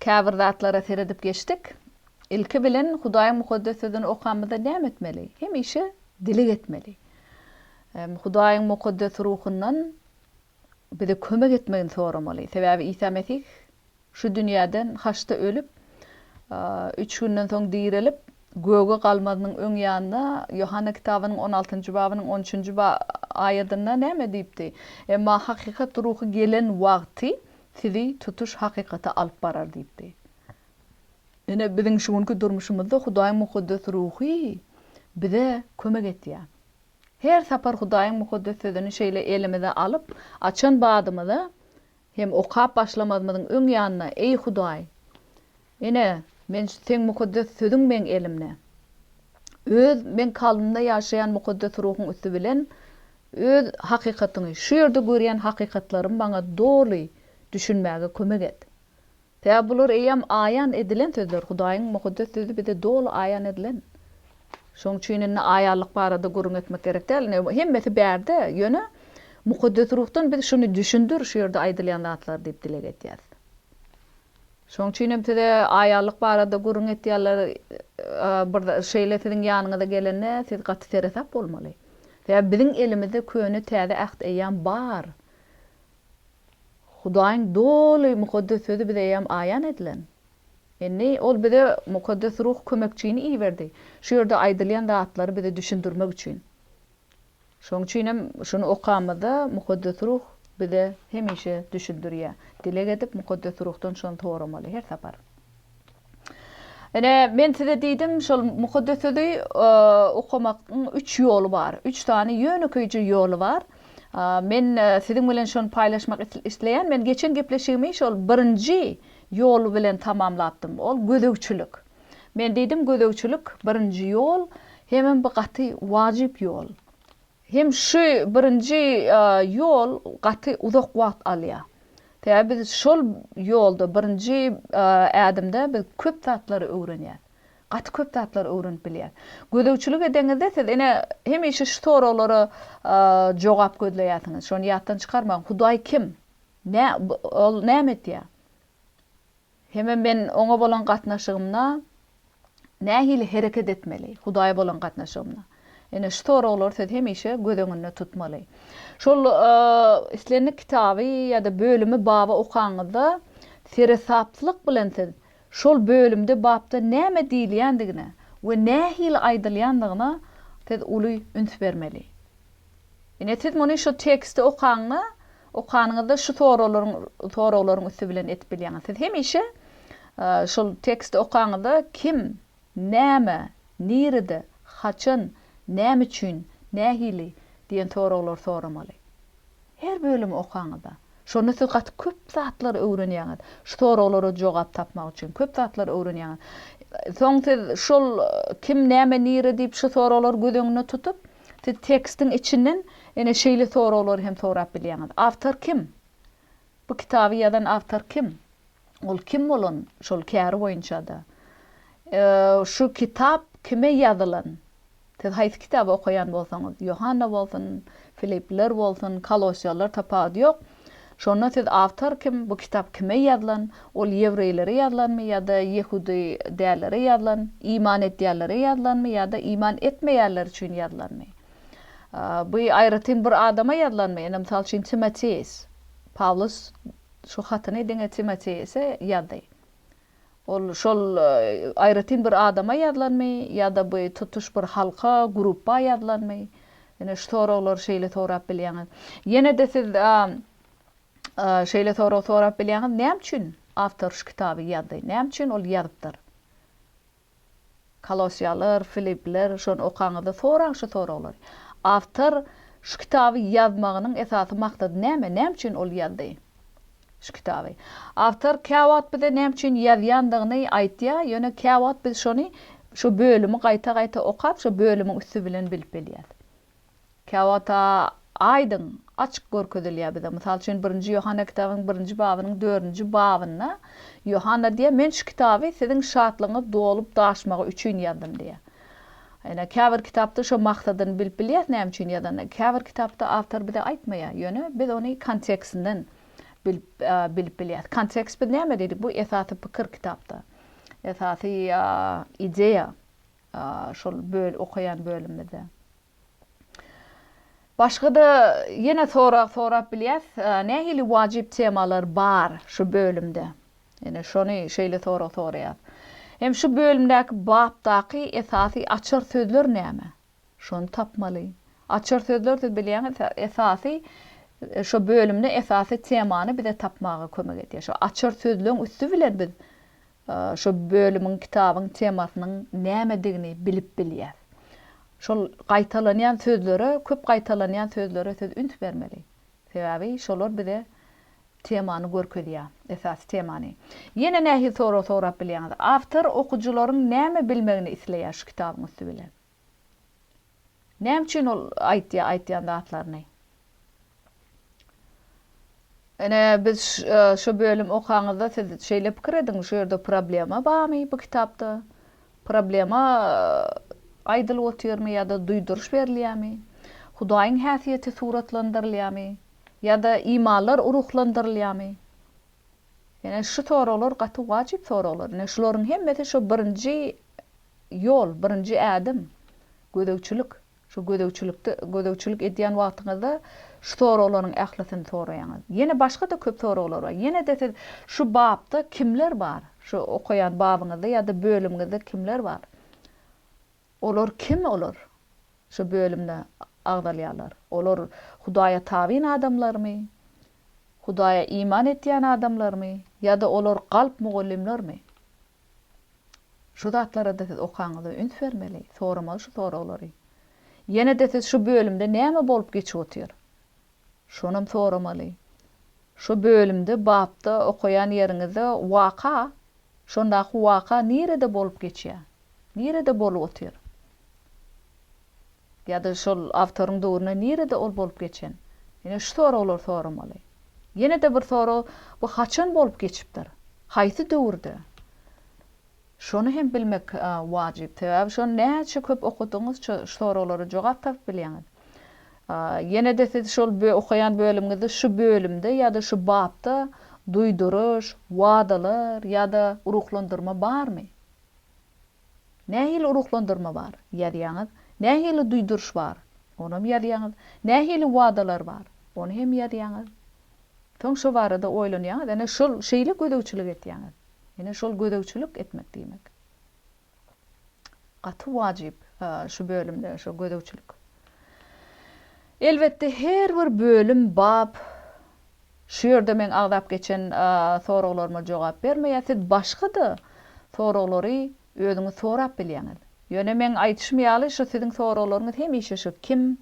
Käbir zatlara seredip geçdik. Ilki bilen Hudaýyň Mukaddes Sözüni okamyzda näme etmeli? Hemişe dileg etmeli. Hudaýyň Mukaddes Ruhundan bize kömek etmegini soramaly. Sebäbi Isa Mesih şu dünýäden haçda ölüp, üç günden soň direlip, göge galmazynyň öň ýanynda Ýohanna kitabynyň on altynjy babynyň on üçünji aýadynda näme diýipdi? Emma hakykat Ruhy gelen wagty sizi tutuş hakykata alyp barar diýipdi. Ine, biziň şu günki durmuşymyzda Hudaýyň mukaddes ruhy bize kömek etýär. Her sapar Hudaýyň Mukaddes Sözüni şeýle elimize alyp, açan badymyza hem okap başlamazymyzyň öň ýanynda, Eý, Hudaý! Ine, men şu Seň mukaddes Sözüň meň elimde. Öz meň kalbymda ýaşaýan Mukaddes Ruhuň üsti bilen Öz hakykatyňy, şu ýerde görýän hakykatlarymy maňa doly düşünmäge kömek et. Sebäbi bular eýýäm aýan edilen sözler, Hudaýyň Mukaddes Sözi bize doly aýan edilen. Şoň üçin indi aýanlyk barada gürrüň etmek gerek däl. Ine, hemmesi bärde, ýöne Mukaddes Ruhdan biz şuny düşündir, şu ýerde aýdylýan zatlar diýip dileg edýäs. Şoň üçinem size aýallyk barada gürrüň etýärler, bir şeýle siziň ýanyňyza gelende siz gaty seresap bolmaly. Sebäbi biziň elimizde köne täze äht eýýam bar. Hudaýyň doly mukaddes sözi bize eýýam aýan edilen. Indi ol bize mukaddes ruh kömekçini iberdi, şu ýerde aýdylýan zatlary bize düşündirmek üçin. Şonuň üçin hem şuny okamyzda Mukaddes Ruh bize hemişe düşündirýär. Dileg edip, Mukaddes Ruhdan şony soramaly her sapar. Ine, men size diýdim, şol Mukaddes Sözi okamagyň üç ýoly bar. Üç sany ýönekeýje ýoly bar. Men siziň bilen şony paýlaşmak isleýän. Men geçen gepleşigimi şol birinji ýol bilen tamamlapdym. Ol gözegçilik. Men diýdim, Gözegçilik birinji ýol, hemem bu gaty wajyp ýol. Hem şu birinji ýol gaty uzak wagt alýar. Sebäbi biz şol ýolda, birinji ädimde biz köp zatlary öwrenýäs. Gaty köp zatlary öwrenip bilýäs. Gözegçilik edeňizde siz ine hemişe şu soraglara jogap gözleýärsiňiz. Şony ýatdan çykarmaň, Hudaý kim? Nä, ol näme etýär? Hemem men Oňa bolan gatnaşygymda nähili hereket etmeli? Hudaýa bolan gatnaşygymda. Ine, şu soraglary siz hemişe göz öňünde tutmaly. Şol islendik kitaby ýa-da bölümi, baby okanyňyzda, seresaplyk bilen siz şol bölümde, bapda näme diýilýändigine we nähili aýdylýandygyna siz uly üns bermeli. Ine siz muny şu teksti okaňda, okanyňyzda şu soraglaryň soraglaryň üsti bilen edip bilýäňiz. Siz hemişe şol teksti okaňyzda kim, näme, nirede, haçan, näme üçin, nähili diýen soraglary soramaly. Her bölümi okaňyzda. Şonda siz gaty köp zatlary öwrenýäňiz. Şu soraglara jogap tapmak üçin köp zatlary öwrenýäňiz. Soň siz şol kim, näme, nire diýip şu soraglary göz öňünde tutup, Siz tekstiň içinden ene şeýle soraglary hem sorap bilýäňiz. Awtor kim? Bu kitaby ýazan awtor kim? Ol kim bolan şol käri boýunça-da? Şu kitap kime ýazylan? Siz haýsy kitaby okaýan bolsaňyz, Ýohanna bolsun, Filippler bolsun, Kolossiýalar tapawudy ýok. Şonda siz awtor kim, bu kitap kime ýazylan, ol ýewreýlere ýazylanmy ýa-da ýehudy dällere ýazylan, iman edýänlere ýazylanmy ýa-da iman etmeýänler üçin ýazylanmy? Bu aýratyn bir adama ýazylanmy, ine, mysal üçin, Timoteýs. Pawlus şu hatyny diňe Timoteýse ýazdy. Ol şol aýratyn bir adama ýazylanmy ýa-da bu tutuş bir halka, grupba ýazylanmy? Ine şu soraglary şeýle sorap bilýäňiz. Ýene-de siz şeýle sorag sorap bilýäňiz, näme üçin awtor şu kitaby ýazdy? Näme üçin ol ýazypdyr? Kolossiýalar, Filippler, şony okaňyzda soraň şu soraglary. Awtor şu kitaby ýazmagynyň esasy maksady näme? Näme üçin ol ýazdy şu kitaby? Awtor käwagt bize näme üçin ýazýandygyny aýtýar, ýöne käwagt biz şony, şu bölümi gaýta-gaýta okap, şo bölümiň üsti bilen bilip bilýäs. Käwagt aýdyň, açyk görkezilýär bize. Mysal üçin, Birinji Ýohanna kitabynyň birinji babynyň dördünji babynda Ýohanna diýýär, Men şu kitaby siziň şatlygyňyz dolup daşmagy üçin ýazdym diýýär. Ýöne käbir kitapda şo maksadyny bilip bilýäris näme üçin ýazanyny. Käbir kitapda awtor bize aýtmaýar, ýöne biz ony kontekstinden bilip bilip bilýäris. Kontekst biz näme diýdik? Bu esasy pikir kitapda. Esasy ideýa. şol okaýan bölümimizde. Başga-da ýene sorag sorap bilýäs, nähili wajyp temalar bar şu bölümde? Ýene şony şeýle sorag soraýas. Hem şu bölümdäki bapdaky esasy açar sözler näme? Şony tapmaly. Açar sözler siz bilýäňiz esasy şo bölümde esasy temany bize tapmaga kömek edýär. Şo açar sözleň üsti bilen biz Şu bölümiň kitabyň temasynyň nämedigini bilip bilýär. Şol gaýtalanýan sözlere, köp gaýtalanýan sözlere siz üns bermeli. Sebäbi şolar bize temany görkezýär, esasy temany. Ýene nähili sorag sorap bilýäňiz? Awtor okyjylaryň näme bilmegini isleýär şu kitabyň üsti bilen? Näme üçin ol aýtýar aýtýan zatlaryny? Ene biz şu bölüm okaňyzda siz şeýle pikir ediň şu ýerde problema bamy bu kitapda? Problema aýdylyp otyrmy ýa-da duýduryş berilýärmi? Hudaýyň häsiýeti suratlandyrylýarmy? Ýa-da imanlar ruhlandyrylýarmy? Ene şu soraglar gaty wajyp soraglar. Ene şularyň hemmesi şu birinji Ýol, birinji ädim, gözegçilik. Şu gözegçilikde, gözegçilik edýän wagtyňyzda şu soraglaryň ählisini soraýaňyz. Ýene başga-da köp soraglar bar. Ýene-de siz şu bapda kimler bar? Şu okaýan babyňyzda ýa-da bölümiňizde kimler bar? Olar kim olar? Şu bölümde agzalýarlar. Olar Hudaýa tabyn adamlarmy? Hudaýa iman etýän adamlarmy? Ýa-da olar galp mugallymlarmy? Şu zatlara-da siz okaňyzda üns bermeli, soramaly şu soraglary. Ýene-de siz şu bölümde näme bolup geçip otyr? Şonam soramaly. Şu bölümde, bapda, okaýan ýeriňizde waka, şondaky waka nirede bolup geçýär? Nirede bolup otyr? Ýa-da şol awtoryň döwründe nirede ol bolup geçen? Ýöne şu soraglary soramaly. Ýene-de bir sorag, bu haçan bolup geçipdir? Haýsy döwürde? Şony hem bilmek wajyp. Sebäbi şony näçe köp okadygyňyzça şu soraglara jogap tapyp bilýäňiz. Ýene-de siz şol okaýan bölümiňizde şu bölümde ýa-da şu bapda duýduryş, wadalar ýa-da ruhlandyrma barmy? Nähili ruhlandyrma bar? Ýazýaňyz. Nähili duýduryş bar? Onam ýazýaňyz. Nähili wadalar bar? Ony hem ýazýaňyz. Soň şo barada oýlanýaňyz, ene şol şeýle gözegçilik etýäňiz. Ene şol gözegçilik etmek diýmek. Gaty wajyp şu bölümde şu gözegçilik. Elbetde her bir bölüm, bap, şu ýerde meň agzap geçen soraglaryma jogap bermeýär, siz başga-da soraglary özüňiz sorap bilýäňiz. Ýöne meň aýdyşym ýaly şu siziň soraglaryňyz hemişe şu kim,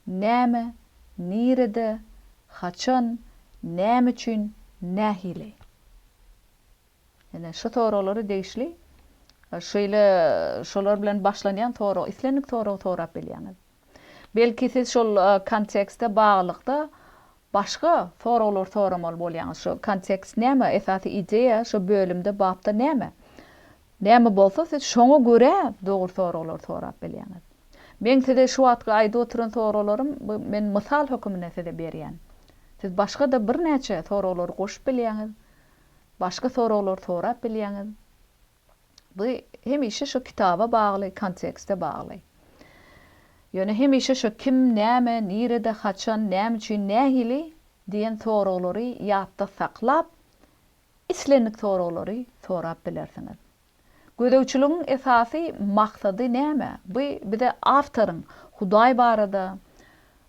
näme, nirede, haçan, näme üçin, nähili. Ýöne şu soraglary degişli şeýle şolar bilen başlanýan sorag islendik soragy sorap bilýäňiz. Belki siz şol kontekste baglylykda başga soraglar soramaly bolýaňyz. Şu kontekst näme? Esasy ideýa şu bölümde, bapda näme? Näme bolsa siz şoňa görä dogry soraglar sorap bilýäňiz. Meň size şu wagtky aýdyp oturan soraglarym bu men mysal höküminde size berýän. Siz başga-da birnäçe soraglary goşup bilýäňiz, başga soraglary sorap bilýäňiz. Bu hemişe şo kitaba bagly, kontekste bagly. Ýöne hemişe şo kim, näme, nirede, haçan, näme üçin, nähili diýen soraglary ýatda saklap, islendik soraglary sorap bilersiňiz. Gözegçiligiň esasy maksady näme? Bu bize awtoryň Hudaý barada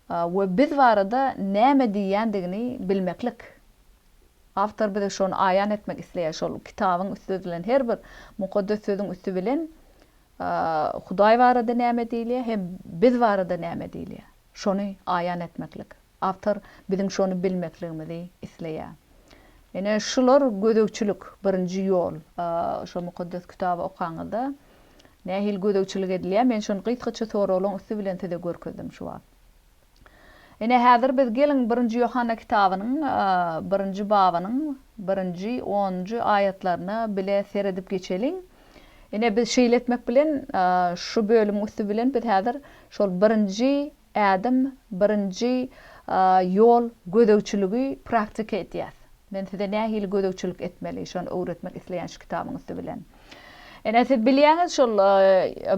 we biz barada näme diýýändigini bilmeklik. Awtor bize şony aýan etmek isleýär, şol kitabyň üsti edilen her bir mukaddes sözüň üsti bilen Hudaý barada näme diýilýär hem biz barada näme diýilýär, şony aýan etmeklik. Awtor biziň şony bilmekligimizi isleýär. Ine, şular gözegçilik, birinji ýol. Şo Mukaddes Kitaby okaňyzda nähili gözegçilik edilýär, men şony gysgaça soragylaň üsti bilen size görkezdim şu wagt. Ine, häzir biz geliň Birinji Ýohanna kitabynyň birinji babynyň birinji, onunjy aýatlaryna bile seredip geçeliň. Ine, biz şeýle etmek bilen, şu bölümiň üsti bilen biz häzir şol birinji ädim, birinji ýol gözegçiligi praktika edýäs. Men size nähili gözegçilik etmeli, şony öwretmek isleýän şu kitabyň üsti bilen. Ine, siz bilýäňiz, şol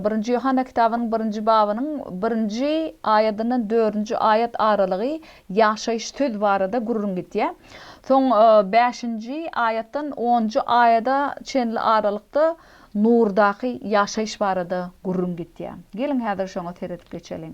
Birinji Ýohanna kitabynyň birinji babynyň birinji aýadyndan dördünji aýat aralygy ýaşaýyş söz barada gürrüň gidýär. Soň bäşinji aýatdan onunjy aýada çenli aralykda nurdaky ýaşaýyş barada gürrüň gidýär. Geliň, häzir şoňa seredip geçeliň.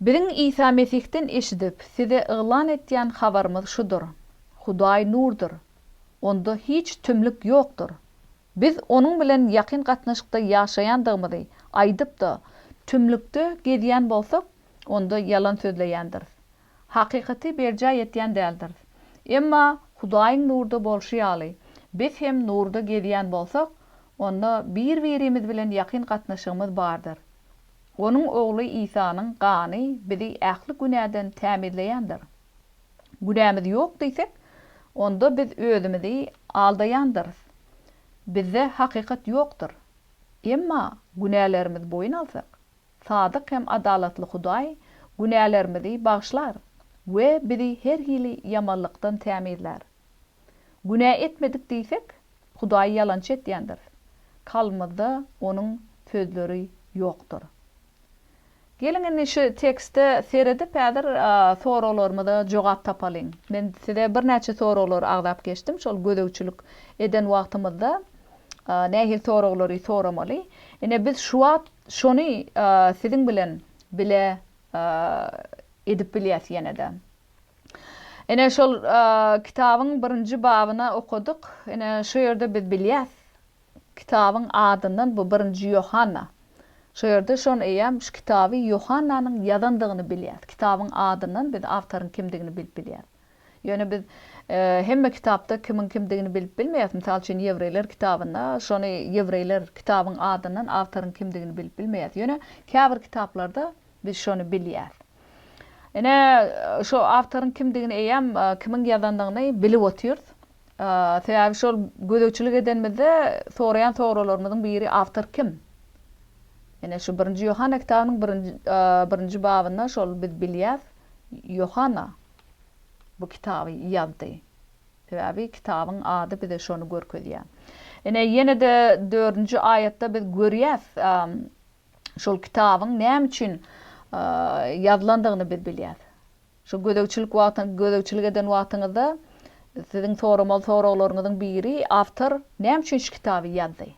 Biziň Isa Mesihden eşidip, size yglan etýän habarymyz şudur, Hudaý nurdur. Onda hiç tümlük ýokdur. Biz Onuň bilen ýakyn gatnaşykda ýaşaýandygymyzy aýdyp-da, tümlükde gezýän bolsak, onda ýalan sözleýändiris. Hakykaty berjaý etýän däldiris. Emma Hudaýyň nurda bolşy ýaly, biz hem nurda gezýän bolsak, onda bir-birimiz bilen ýakyn gatnaşygymyz bardyr. Onuň Ogly Isanyň gany bizi ähli günäden tämizleýändir. Günämiz ýok diýsek, onda biz özümizi aldaýandyrys, bizde hakykat ýokdur. Emma günälerimizi boýun alsak, sadyk hem adalatly Hudaý günälerimizi bagyşlar we bizi her hili ýamanlykdan tämizlär. Günä etmedik diýsek, Hudaýy ýalançy etýändiris. Kalbymyzda Onuň sözleri ýokdur. Geliň indi şu tekste seredip häzir soraglarymyza jogap tapalyň. Men size birnäçe soraglary agzap geçdim. Şol gözegçilik eden wagtymyzda nähili soraglary soramaly? Ine biz şu wagt şony siziň bilen bile edip bilýäs ýene-de. Ine, şol kitabyň birinji babyna okadyk. Ine, şu ýerde biz bilýäs, kitabyň adyndan bu birinji Ýohanna. Şu ýerde şon eýýäm şu kitaby Ýohannanyň ýazandygyny bilýäs. Kitabyň adyndan biz awtoryň kimdigini bilip bilýäs. Ýöne biz hemme kitapda kimiň kimdigini bilip bilmeýäs. Mysal üçin, Ýewreýler kitabynda şony Ýewreýler kitabyň adyndan awtoryň kimdigini bilip bilmeýäs. Ýöne käbir kitaplarda Biz şony bilýäs. Ine, şu awtoryň kimdigini eýýäm, kimiň ýazandygyny bilip otyrys. Sebäbi şol gözegçilik edenimizde soraýan soralarymyzyň biri awtor kim? Ine, şu birinji Ýohanna kitabynyň birinji babynda şol biz bilýäs, Ýohanna bu kitaby ýazdy. Sebäbi kitabyň ady bize şony görkezýär. Ine, ýene-de dördünji aýatda biz görýäs, şol kitabyň näme üçin ýazylandygyny biz bilýäs. Şu gözegçilik wagty gözegçilik eden wagtyňyzda siziň soramaly soraglaryňyzyň biri awtor näme üçin şu kitaby ýazdy?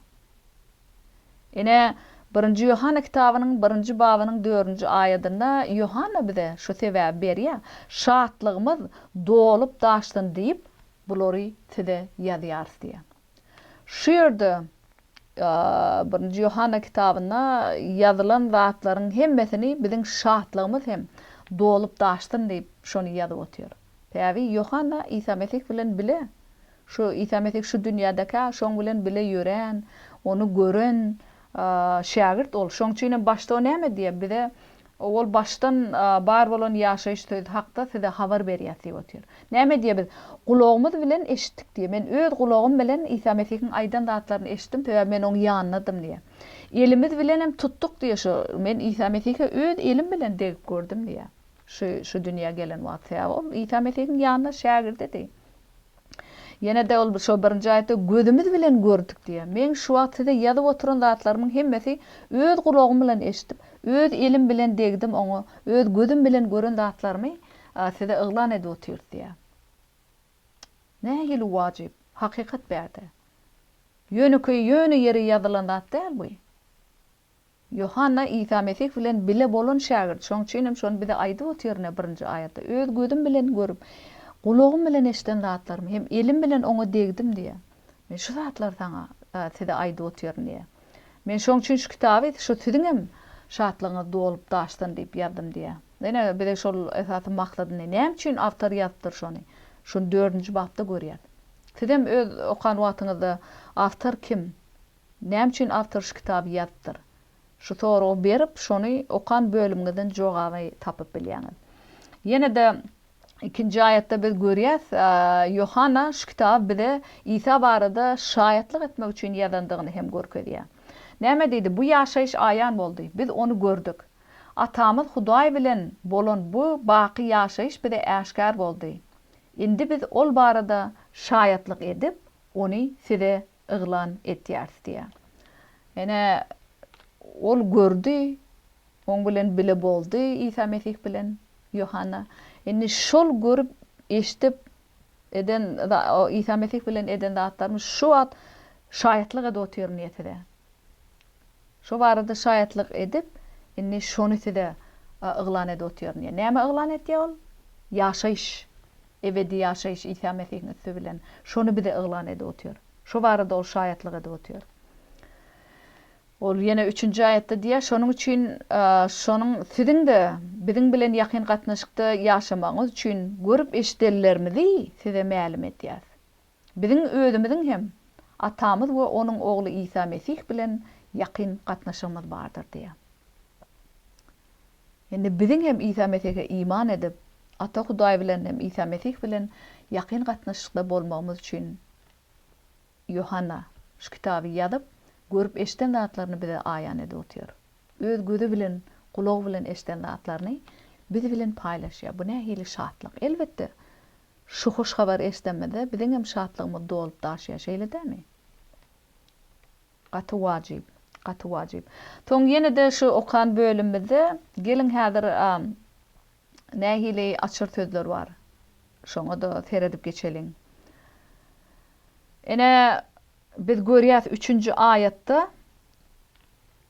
Ine, Birinji Ýohanna kitabynyň birinji babynyň dördünji aýadynda Ýohanna bize şu sebäbi berýär, Şatlygymyz dolup-daşsyn diýip, bulary size ýazýarys diýýär. Şu ýerde Birinji Ýohanna kitabynda ýazylan zatlaryň hemmesini biziň şatlygymyz hem dolup-daşsyn diýip şony ýazyp otyr. Päbi Ýohanna Isa Mesih bilen bile, şu Isa Mesih şu dünýädekä şoň bilen bile ýören, ony gören, Şägirt ol. Şoň üçinem başda o näme diýýär? Bize ol başdan bar bolan ýaşaýyş sözi hakda size habar berýäs diýip otyr. Näme diýýär? Biz gulagymyz bilen eşitdik diýýär. Men öz gulagym bilen Isa Mesihiň aýdan zatlaryny eşitdim, sebäbi men oň ýanyndadym diýýär. Elimiz bilenem tutduk diýýär şu. Men Isa Mesihe öz elim bilen degip gördüm diýýär. Şu şu dünýä gelen wagt. Sebäbi ol Isa Mesihiň ýanynda şägirdidi. Ýene-de ol şo birinji aýatda gözümiz bilen gördük diýýär. Meň şu wagt size ýazyp oturan zatlarymyň hemmesi öz gulagym bilen eşidip, öz elim bilen degdim oňa, öz gözüm bilen gören zatlarymy size yglan edip otyrys diýýär. Nähili wajyp, hakykat bärde. Ýönekeý, ýöne ýere ýazylan zat däl bu. Ýohanna Isa Mesih bilen bile bolan şägirt, şonuň üçin hem şony bize aýdyp otyryn-a birinji aýatda, Öz gözüm bilen görüp, gulagym bilen eşiden zatlarymy hem elim bilen oňa degdim diýýär. Men şu zatlary saňa, size aýdyp otyryn diýýär. Men şonuň üçin şu kitaby şu siziň hem şatlygyňyz dolup daşsyn diýip ýazdym diýýär. Ine, bize şol esasy maksadyny, näme üçin awtor ýazypdyr şony, şuny dördünji bapda görýäs. Siz hem öz okan wagtyňyzda awtor kim, Näme üçin awtor şu kitaby ýazypdyr? Şu soragy berip, şony okan bölümiňizden jogaby tapyp bilýäňiz. Ýene-de ikinji aýatda biz görýäs, Ýohanna şu kitaby bize Isa barada şaýatlyk etmek üçin ýazandygyny hem görkezýär. Näme diýdi? Bu ýaşaýyş aýan boldy. Biz ony gördük. Atamyz Hudaý bilen bolan bu baky ýaşaýyş bize äşgär boldy. Indi biz ol barada şaýatlyk edip, ony size yglan etýäris diýýär. Ene, ol gördi, oň bilen bile boldy, Isa Mesih bilen Ýohanna. Indi şol görüp, eşidip, eden, Isa Mesih bilen eden zatlarymyz şu wagt şaýatlyk edip otyryn diýýär size. Şo barada şaýatlyk edip, indi şony size yglan edip otyryn diýýär. Näme yglan etýär ol? Ýaşaýyş, ebedi ýaşaýyş Isa Mesihiň üsti bilen. Şony bize yglan edip otyr. Şo barada ol şaýatlyk edip otyr. Ol ýene üçünji aýatda diýýär, Şonuň üçin, şonuň siziň-de biziň bilen ýakyn gatnaşykda ýaşamagyňyz üçin görüp-eşidenlerimizi size mälim edýäris. Biziň özümiziň hem Atamyz we Onuň Ogly Isa Mesih bilen ýakyn gatnaşygymyz bardyr diýýär. Indi biziň hem Isa Mesihe iman edip, Ata Hudaý bilen hem Isa Mesih bilen ýakyn gatnaşykda bolmagymyz üçin Ýohanna şu kitaby ýazyp, görüp-eşden zatlaryny bize aýan edip otyr. Öz gözi bilen, gulagy bilen eşden zatlaryny biz bilen paýlaşýar. Bu nähili şatlyk! Elbetde, Şu hoş habary eşidemizde biziňem şatlygymyz dolup daşýar, şeýle dämi? Gaty wajyp, gaty wajyp. Soň ýene-de şu okan bölümimizde geliň häzir nähili açyr sözler bar, şoňa-da seredip geçeliň. Ine, biz görýäs üçünji aýatda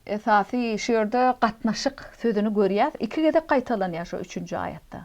esasy şu ýerde gatnaşyk sözüni görýäs, iki gezek gaýtalanýar şu üçünji aýatda.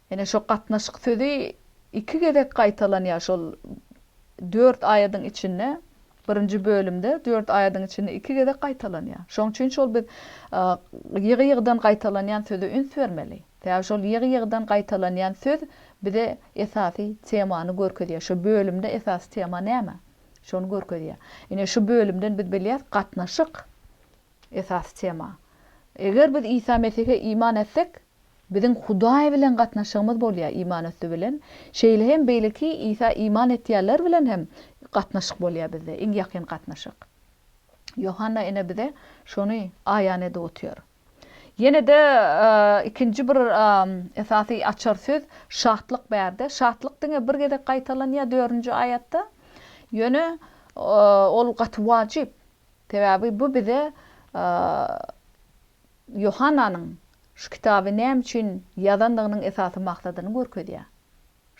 Ine şo gatnaşyk sözi iki gezek gaýtalanýar şol dört aýadyň içinde, birinji bölümde dört aýadyň içinde iki gezek gaýtalanýar. Şoň üçin şol biz ýygy-ýygydan gaýtalanýan söze üns bermeli. Sebäbi şol ýygy-ýygydan gaýtalanýan söz bize esasy temany görkezýär. Şo bölümde esasy tema näme? Şony görkezýär. Ine şu bölümden biz bilýäris gatnaşyk Esasy tema. Eger biz Isa Mesihe iman etsek, biziň Hudaý bilen gatnaşygymyz bolýar, iman üsti bilen, şeýle hem beýleki Isa iman etýänler bilen hem gatnaşyk bolýar bizde, iň ýakyn gatnaşyk. Ýohanna ene bize şony aýan edip otyr. Ýene-de ikinji bir esasy açar söz şatlyk bärde. Şatlyk diňe bir gezek gaýtalanýar dördünji aýatda. Ýöne ol gaty wajyp. Sebäbi bu bize Ýohannanyň şu kitaby näme üçin ýazandygynyň esasy maksadyny görkezýär.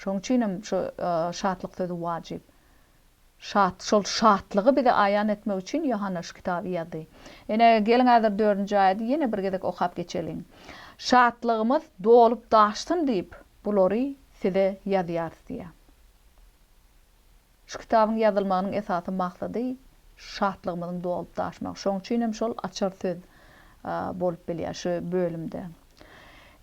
Şonuň üçin hem şu şatlyk sözi wajyp. Şat, şol şatlygy bize aýan etmek üçin Ýohanna şu kitaby ýazdy. Ine, geliň häzir dördünji aýady ýene bir gezek okap geçeliň. Şatlygymyz dolup-daşsyn diýip, bulary size ýazýarys diýýär. Şu kitabyň ýazylmagynyň esasy maksady şatlygymyzyň dolup-daşmagy. Şoň üçin hem şol açar söz bolup bilýär şu bölümde.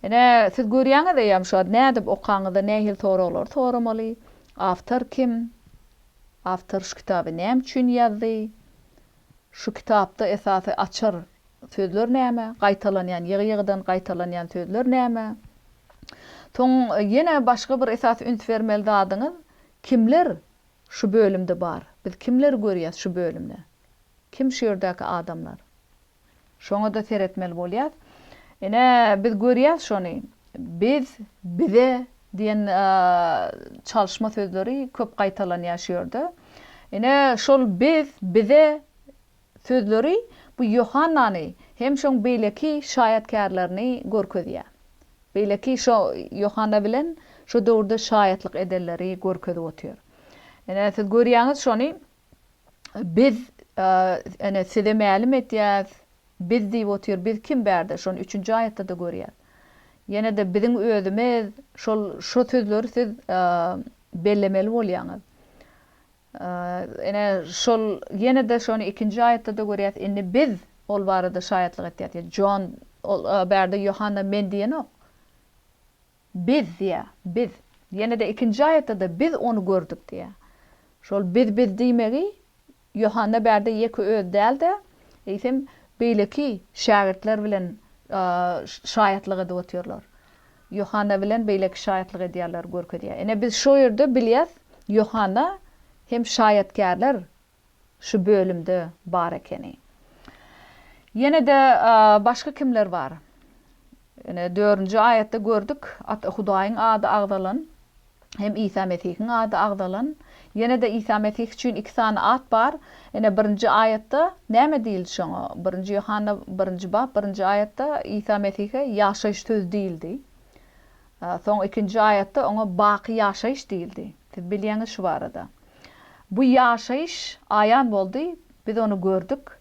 Ine, siz görýäňiz eýýäm şu zady. Nädip okaňyzda nähili soraglary soramaly? Awtor kim? Awtor şu kitaby näme üçin ýazdy? Şu kitapda esasy açar sözler näme? Gaýtalanýan, ýygy-ýygydan gaýtalanýan sözler näme? Soň ýene başga bir esasy üns bermeli zadyňyz, Kimler şu bölümde bar? Biz kimleri görýäs şu bölümde? Kim şu ýerdäki adamlar? Şoňa-da seretmeli bolýas. Ine, biz görýäs şony. Biz, bize diýen çalyşma sözleri köp gaýtalanýar şu ýerde. Ine, şol biz, bize Sözleri bu Ýohannany hem şoň beýleki şaýatkärlerini görkezýär. Beýleki şo Ýohanna bilen şo döwürde şaýatlyk edenleri görkezip otyr. Ine, siz görýäňiz şony, Biz, ene, size mälim edýäs, Biz diýip otyr, biz kim bärde? Şony üçünji aýatda-da görýäs. Ýene-de biziň özümiz, şol, şo sözleri siz bellemeli bolýaňyz. Ine, şol ýene-de şony ikinji aýatda-da görýäs, Indi Biz ol barada şaýatlyk etýäs diýýär. Jon, ol bärde Ýohanna Men diýenok. Biz diýýär, Biz. Ýene-de ikinji aýatda-da Biz ony gördük diýýär. Şol Biz, Biz diýmegi Ýohanna bärde ýeke özi däl-de, eýsem, beýleki şägirtler bilen şaýatlyk edip otyrlar. Ýohanna bilen beýleki şaýatlyk edýärler, görkezýär. Ine biz şo ýerde bilýäs, Ýohanna hem şaýatkärler şu bölümde bar ekeni. Ýene-de başga kimler bar? Ine dördünji aýatda gördük, Ata Hudaýyň ady agzalan hem Isa Mesihiň ady agzalan. Ýene-de Isa Mesih üçin iki sany at bar. Ine, birinji aýatda näme diýildi şoňa? Birinji Ýohanna birinji bap birinji aýatda Isa Mesihe ýaşaýyş sözi diýildi. Soň ikinji aýatda oňa baky ýaşaýyş diýildi. Siz bilýäňiz şu barada. Bu ýaşaýyş aýan boldy, biz ony gördük,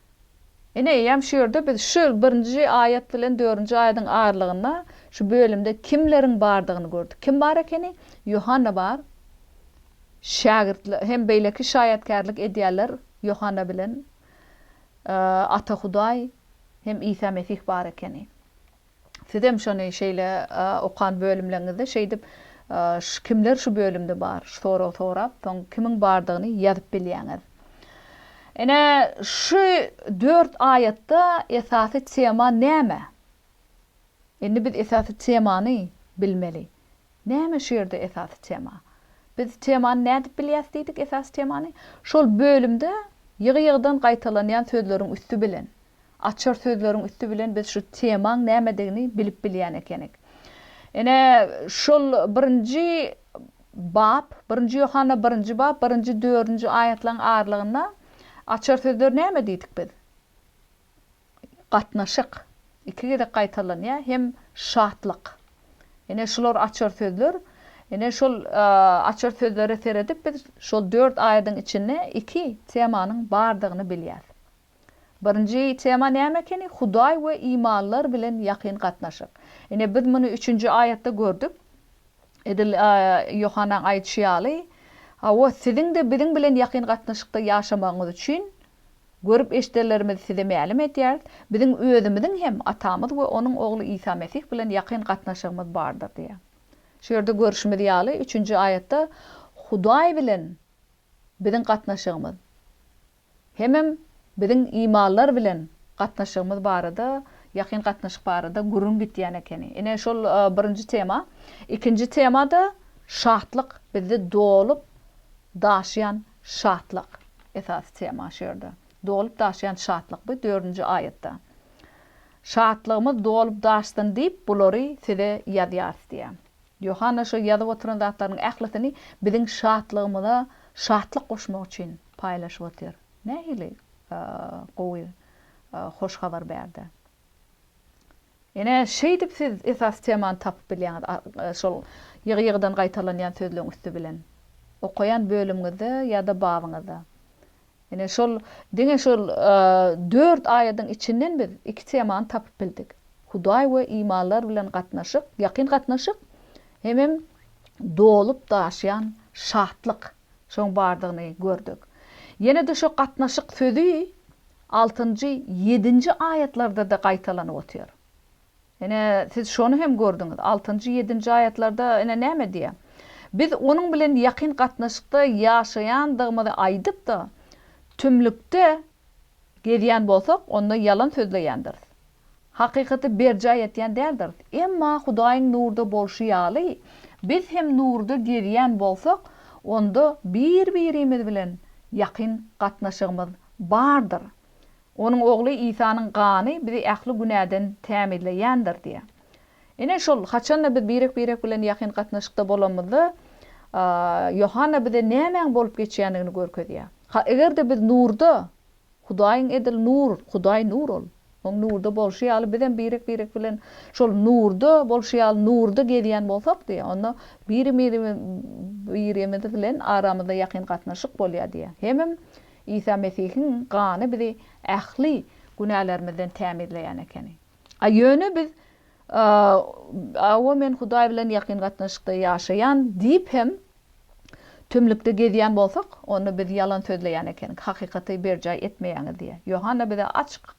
Ine, eýýäm şu ýerde biz şu birinji aýat bilen dördünji aýadyň aralygynda şu bölümde kimleriň bardygyny gördük. Kim bar ekeni? Ýohanna bar. Şägirtler hem beýleki şaýatkärlik edýärler Ýohanna bilen. Ata Hudaý hem Isa Mesih bar ekeni. Sizem şony şeýle okan bölümleriňizde şeýdip kimler şu bölümde bar şu soragy sorap soň kimiň bardygyny ýazyp bilýäňiz. Ine şu dört aýatda esasy tema näme? Indi biz esasy temany bilmeli. Näme şu ýerde esasy tema? Biz temany nädip bilýäs diýdik esasy temany? Şol bölümde ýygy-ýygydan gaýtalanýan sözleriň üsti bilen, açar sözleriň üsti bilen biz şu temaň nämedigini bilip bilýän ekenik. Ine, şol birinji bap, birinji Ýohanna birinji bap, birinji, dördünji aýatlaryň aralygynda açar sözler näme diýdik biz? gatnaşyk iki gezek gaýtalanýar hem şatlyk. Ine şular açar sözler. Ine şol açar sözlere seredip biz şol dört aýadyň içinde iki temanyň bardygyny bilýäs. Birinji tema näme ekeni? Hudaý we imanlylar bilen ýakyn gatnaşyk. Ine biz muny üçünji aýatda gördük. Edil Ýohanaň aýdyşy ýaly, Hawa, siziň-de biziň bilen ýakyn gatnaşykda ýaşamagyňyz üçin Görüp-eşidenlerimizi size mälim edýäris, biziň özümiziň hem Atamyz we Onuň Ogly Isa Mesih bilen ýakyn gatnaşygymyz bardyr diýýär. Şu ýerde görşümiz ýaly, üçünji aýatda Hudaý bilen biziň gatnaşygymyz, hemem biziň imanlar bilen gatnaşygymyz barada, ýakyn gatnaşyk barada gürrüň gitýän ekeni. Ine, şol birinji tema. Ikinji tema-da şatlyk, bizde dolup daşýan Şatlyk, esasy tema şu ýerde. Dolup daşýan şatlyk bu dördünji aýatda. Şatlygymyz dolup daşsyn diýip bulary size ýazýarys diýýär. Ýohanna şu ýazyp oturan zatlarynyň ählisini biziň şatlygymyza şatlyk goşmak üçin paýlaşyp otyr. Nähili gowy hoş habar bärde. Ine, şeýdip siz esasy temany tapyp bilýäňiz, şol ýygy-ýygydan gaýtalanýan sözleň üsti bilen, okaýan bölümiňizde ýa-da babyňyzda. Ine, şol diňe şol dört aýadyň içinden biz iki temany tapyp bildik. Hudaý we imanlar bilen gatnaşyk, ýakyn gatnaşyk hemem dolup-daşýan şatlyk. Şoň bardygyny gördük. Ýene-de şo gatnaşyk sözi altynjy, ýedinji aýatlarda-da gaýtalanyp otyr. Ine, siz şony hem gördüňiz. Altynjy, ýedinji aýatlarda ine näme diýýär? Biz Onuň bilen ýakyn gatnaşykda ýaşaýandygymyzy aýdyp-da, tümlükde gezýän bolsak, onda ýalan sözleýändiris. Hakykaty berjaý etýän däldiris. Emma Hudaýyň nurda bolşy ýaly, biz hem nurda gezýän bolsak, onda bir-birimiz bilen ýakyn gatnaşygymyz bardyr. Onuň Ogly Isanyň gany bizi ähli günäden tämizleýändir diýýär. Ine, şol haçan-da biz birek-birek bilen ýakyn gatnaşykda bolanymyzda, Ýohanna bize nämäň bolup geçýändigini görkezýär. Ha, eger-de biz nurda Hudaýyň edil nur, Hudaý nur ol. Oň nurda bolşy ýaly bizem birek-birek bilen şol nurda bolşy ýaly nurda gezýän bolsak diýýär. Onda biri-birimiz bilen aramyzda ýakyn gatnaşyk bolýar diýýär. Hemem Isa Mesihiň gany bizi ähli günälerimizden tämizleýän ekeni. A ýöne biz Awa men Hudaý bilen ýakyn gatnaşykda ýaşaýan diýip hem Tümlükde gezýän bolsak, onda biz ýalan sözleýän ekenik, hakykaty berjaý etmeýäňiz diýýär. Ýohanna bize açyk,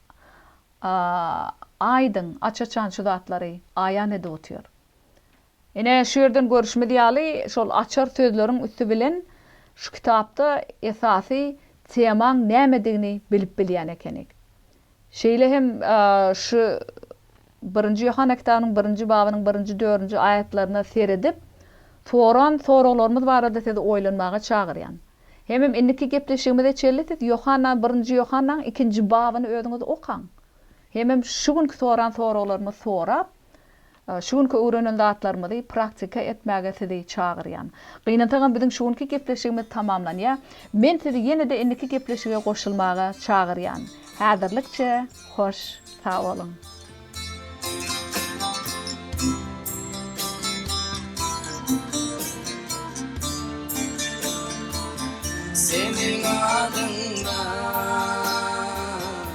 aýdyň, aç-açan şu zatlary aýan edip otyr. Ine, şu ýerden görüşimiz ýaly, şol açar sözleriň üsti bilen şu kitapda esasy temaň nämedigini bilip bilýän ekenik. Şeýle hem şu Birinji Ýohanna kitabynyň birinji babynyň birinji, dördünji aýatlaryna seredip, soran soraglarymyz barada sizi oýlanmaga çagyrýan. Hemem indiki gepleşigimize çenli siz Ýohanna Birinji Ýohannaň ikinji babyny özüňiz okaň. Hemem şu günki soran soraglarymyz sorap, Şu günki öwrenen zatlarymyzy praktika etmäge sizi çagyrýan. Gynansagam biziň şu günki gepleşigimiz tamamlanýar. Men sizi ýene-de indiki gepleşige goşulmaga çagyrýan. Häzirlikçe hoş sag boluň. Seniň adyňdan.